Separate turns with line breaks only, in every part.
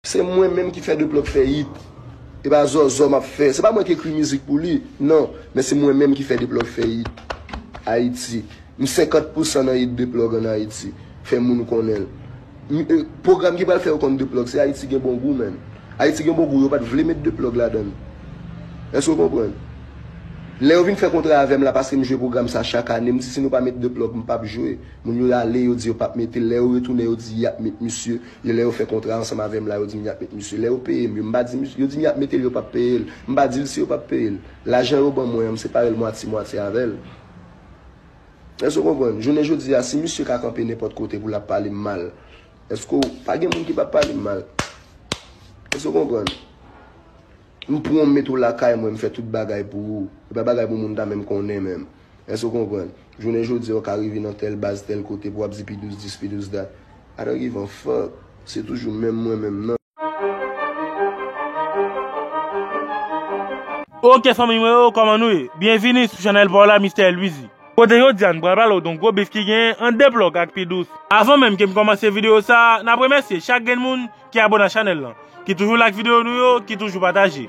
Se mwen menm ki fè Deplòk fè yit. E pa zòzò m ap fè. Se pa mwen ki ekri mizik pou li, non. Men se mwen menm ki fè Deplòk fè yit. Ayiti. M 50 pou san nan yit Deplòk an Ayiti. Fè moun konnen l. Pwogram ki pral fè yo konn Deplòk se Ayiti gen bon gou menn. Ayiti gen bon gou yo pa t vle met Deplòk ladan l. Èske w konprann? Lè yo vin fè kontra avè m la paske m jwe pwogram sa chak ane, m di si nou pa met Deplòk m p ap jwe. Moun yo ale yo di yo p ap mete l. Lè yo retounen yo di y ap met misye. Yo lè yo fè kontra ansanm avèm la yo dim yap met misye lè yo peyem yo mpa di misye yo dim yap metel yo pap peyel mpa dil si yo pap peyel lajan yo ban mwen an mseparel mwatye mwatye avèl èske ou konprann jounen jodi a si misye ka kanpe nenpòt kote poul ap palem mal èske ou pa gen moun ki pap palem mal èske ou konprann mpranw mete ou lakay mwen mfè tout bagay pou ou epa bagay pou moun ta menm konnen menm. Èske w konprann? Jounen jodi a, w ka rive nan tèl baz, tèl kote, pou w ap di pi douz dis, pi douz dat. I don't give a fuck! Se toujou menm mwen menm nan.
Ok fanmiy mwen yo kòman nou ye? Byenvini sou chanèl pa w la Mister Luizy. Kote jodi a n pral pale w don gwo bif ki genyen an deplòk ak pi dous. Avan menm ke m kòmanse videyo sa, n ap remèsye chak grenn moun Ki abone ak chanel lan. Ki toujou like video nou yo, ki toujou pataje.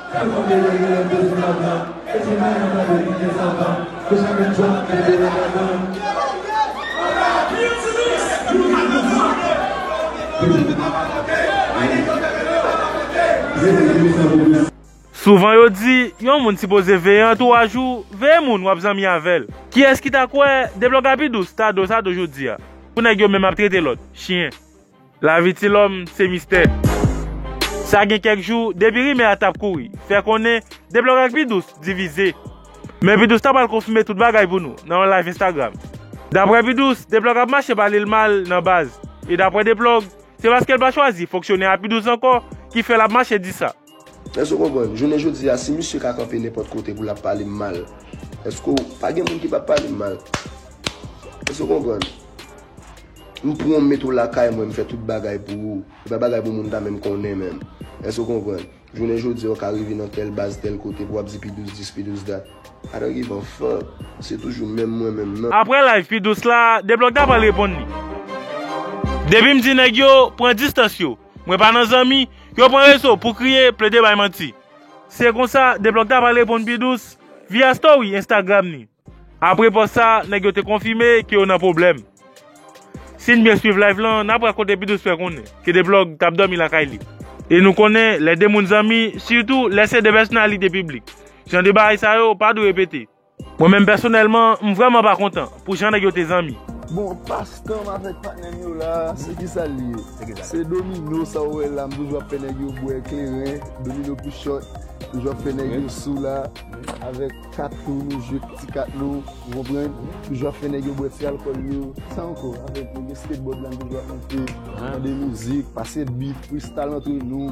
Sa fanm yo ye genyen bezwen lajan e ti mayi an tande li gen
santan nou pa gen dwa mete yo ladan. Souvan yo di yon moun sipoze veye antouwaj ou, veye moun wap zanmi avèl. Kiyès ki ta kwè deblòga pi dous ta do sa do jodia pou nèg yo menm ap trete lòt chyen. Lavi ti lòm se mistè. Sa gen kèk jou, depi rimè a t ap kouri, fè konnen deblòk ak Pidous divize. Men Pidous ta pral konfime tout bagay pou nou nan yon live Instagram. Daprè Pidous, deblòk ap mache pale l mal nan baz. E daprè deplòk, se paske l pa chwazi fonksyonè a Pidous ankò ki fè l ap mache di sa. Èske w konprann?
Jounen jodi a, si misye ka kanpe nenpòt kote pou l ap pale m mal, èske w. Pa gen moun ki pap pale m mal. Èske w konprann? M pran w m mete w lakay mwen, m fè tout bagay pou ou. Se pa bagay pou moun ta menm konnen menm. Èske w konprann? Jounen jodi a, w ka rive nan tèl baz, tèl kote pou w ap di pi dous dis, pi dous dat. I don't give a fuck. Se toujou menm mwen menm nan. Aprè live pi dous la,
Deblòk ta pral reponn li. Depi m di nèg yo, pran distans yo. Mwen pa nan zanmi, yo pran rezo pou kriye, plede bay manti. Se konsa, Deblòk ta pral reponn pi dous, via story Instagram ni. Apre pòs sa, nèg yo te konfime ke yo nan pwoblèm. Si n byen swiv live lan, n ap wè kote P-Dous fè konnen ke Deblòk tap dòmi lakay li. E nou konnen, lè de moun zanmi, sitou lè se de pèsonalite piblik, jan de bagay sa yo pa dwe repete. Mwen menm pèsonèlman, m vrèman pa kontan pou jan nèg yo te zanmi. Bon, pas
tan m avèk patnè m yo la a, se ki sa l ye? Se domino sa ou wè la a, m toujou ap fè nèg yo bwè kleren, domino pou chòt, toujou ap fè nèg yo sou la a, avèk kat tou, nou jwe ti kat nou, ou konprann, toujou ap fè nèg yo bwè ti alkòl yo, ki sa ankò? Avèk nèg yo skateboard la, m toujou ap monte, tande mizik, pase beat, freestyle antre nou.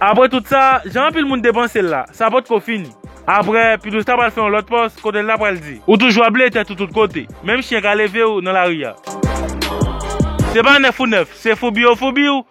Apre tout
sa, jan anpil moun te panse l la, sa potko fini. Apre, Pidouze ta pral fè yon lòt pòs kote l ta pral di. Ou toujou ap ble tèt ou tout kote, menm chyen ka leve w nan lari a. Se pa nèf ou nèf, se foubi ou foubi w.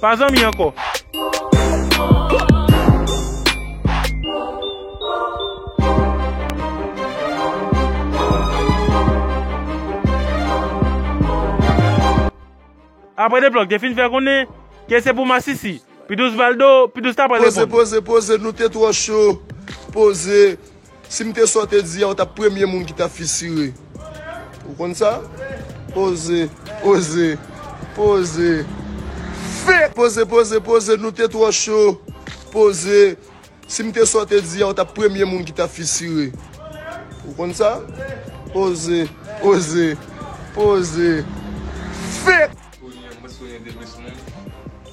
Pa zanmi ankò. Aprè Deplòk te fin fè konnen ke se pou masisi, Pidous Valdo, Pidous ta pral reponn. Poze, poze, poze, nou te
twò cho, poze, Si m te sa w te di a ou t ap premye moun ki t ap fisire. Ou konn sa? Poze, poze, poze. Fek! Poze, poze, poze, nou te twò cho. Poze, Si m te sa w te di a ou t ap premye moun ki t ap fisire. Ou konn sa? Poze, poze, poze. Fek! Kounye a m bezwen 2 plis moun.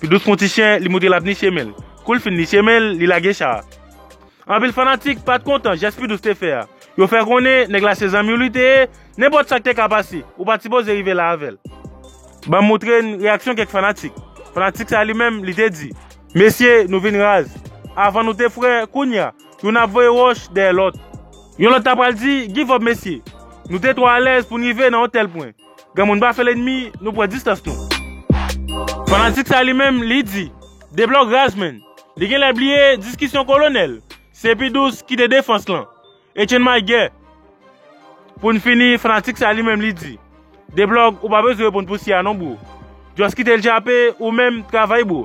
Pi dous kon ti chen, li moutre l ap niche men l. Kou l fin niche men l, li lage cha a. Anpil fanatik pa t kontan jès Pi dous te fè a. Yo fè konnen nèg la se zanmi w li te ye, nenpòt sa k te ka pase, ou pa t sipoze rive la avè l. Ban m moutre n reyaksyon kèk fanatik. Fanatik sa a li menm, li te di. Mesye, nou vin raz. Avan nou te frè, kounya, Youn ap voye wòch dèyè lòt. Yon lòt ta pral di, Give up mesye! Nou te twò alèz pou n rive nan yon tèl pwen. Granmoun pa fè lènmi, nou pran distans nou. Fanatik sa li menm, li di, Deblòk raz menn! Li genlè bliye diskisyon kolonèl, Se pi dous kite defans lan. Etienne Mailguer. Pou n fini, fanatik sa li menm li di, Deblòk ou pa bezwen reponn pou si a non bro. Just kite l jape, ou menm, travay bro.